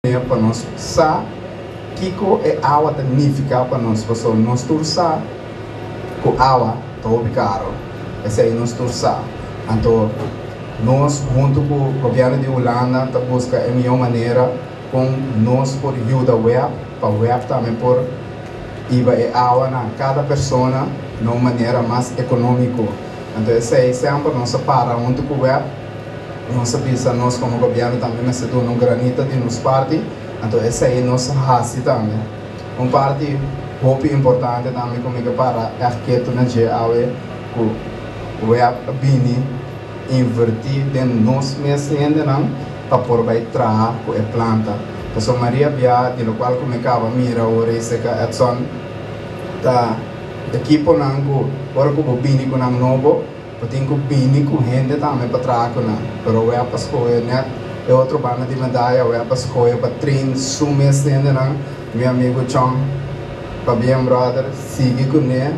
manera pa nos sa kiko e awa ta nifiká pa nos, pasobra nos tur sa ku awa ta hopi karu, p'esei nos tur sa. Anto nos huntu ku gobièrnu di Hulanda ta buska e mihó manera kon nos por yuda web, pa web tambe por hiba e awa na kada persona na un manera mas ekonómiko. Anto esei semper nos a para huntu ku web Nos a bisa nos komo gobièrnu tambe mester duna un granito di nos parti, anto esei nos a hasi tambe. Un parti hopi importante tambe ku mi ke para ègt ketu na dje awe ku web a bini invertí den nos mes hendenan pa por bai traha ku e planta. Pasobra Maria Bia di lokual ku mi kaba mira ora i seka Edson ta ekiponan ku ora ku bo bini ku nan nobo, Bo tin cu bini cu hende tambe pa traha cu nan, pero awe a pas coge net e otro banda di medaya, awe a pas coge pa train su mes hendenan, mi amigo Chong, pabien brother, sigui cu ne,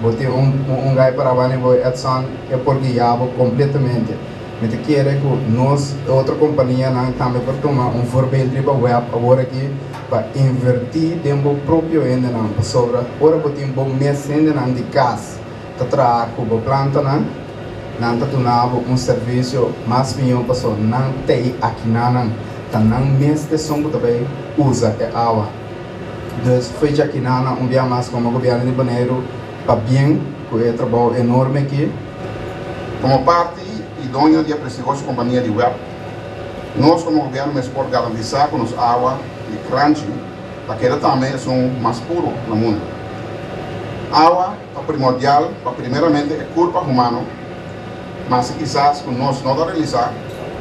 bo tin un un gai para wani bo Edson, e por guia bo completamente, mi ta kere cu nos e otro companianan tambe por tuma un voorbeeld riba web awor aki pa inverti den bo propio hendenan, pasobra ora bo tin bo mes hendenan di cas, Ta traha ku bo plantanan. Nan ta duna bo un servisio mas mihó paso nan tei akinanan ta nan mes di esun ku ta bai usa e awa. Dus fecha akinan na un bia mas komo Gobièrnu di Boneiru pabien ku e trabou enorme aki. Komo parti i doño di e prestigioso kompania di web, nos komo Gobièrnu mes por garantisá ku nos awa di Kranji ta keda tambe esun mas puro na mundu. Awa. Ta primordial pa primeramente e kurpa humano, ma si kisas ku nos no ta realisá,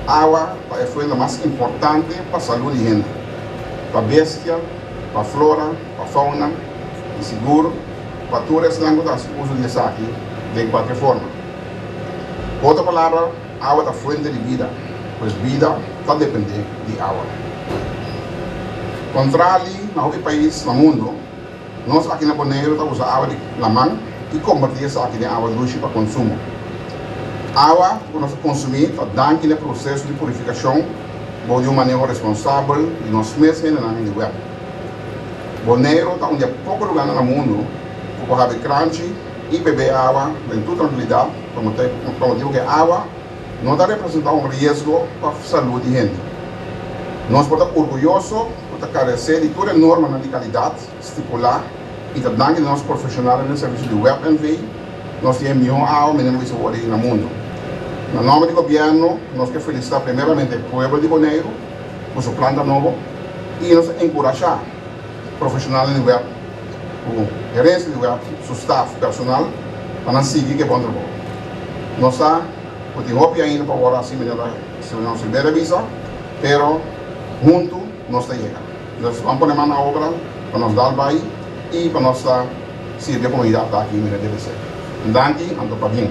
awa ta e fuente mas importante pa salú di hende, pa bestia, pa flora, pa fauna i sigur pa tur esnan ku ta hasi uso di esaki den kualke forma. Ku otro palabra, awa ta fuente di bida, pues bida ta dependé di awa. Kontrali na hopi pais na mundu, Nos aki na Boneiru ta usa awa di laman i kombertí esaki den awa dushi pa konsumo. Awa ku nos a konsumí ta dan kila proseso di purifikashon bou di un maneho responsabel di nos mes hendenan den di wèp. Boneiru ta un di e poko lugánan na mundu ku por habi kranchi i bebé awa den tur trankilidat pa motibu ku e awa no ta representá un riesgo pa salú di hende. Nos por ta orguyoso ku ta karesé di tur e normanan di kalidat stipulá i ta danki di nos profeshonalnan den servisio di WebNV, nos tin e mihó awa mi nan bisa wòrdu na mundu. Na nòmber di gobièrnu, nos ke felisitá primeramente e pueblo di Boneiru ku su planta nobo i nos ta enkurashá, profeshonalnan di web ku gerensia di web su staf personal pa nan sigui ku e bon trabou. Nos sa ku tin hopi ainda pa wòrdu hasi manera Señor Silveira a bisa, pero huntu nos ta yega. Entonces ban pone man na obra pa nos dal bai i pa nos ta sirbi e komunidat aki manera debe ser. Un danki, anto pabien.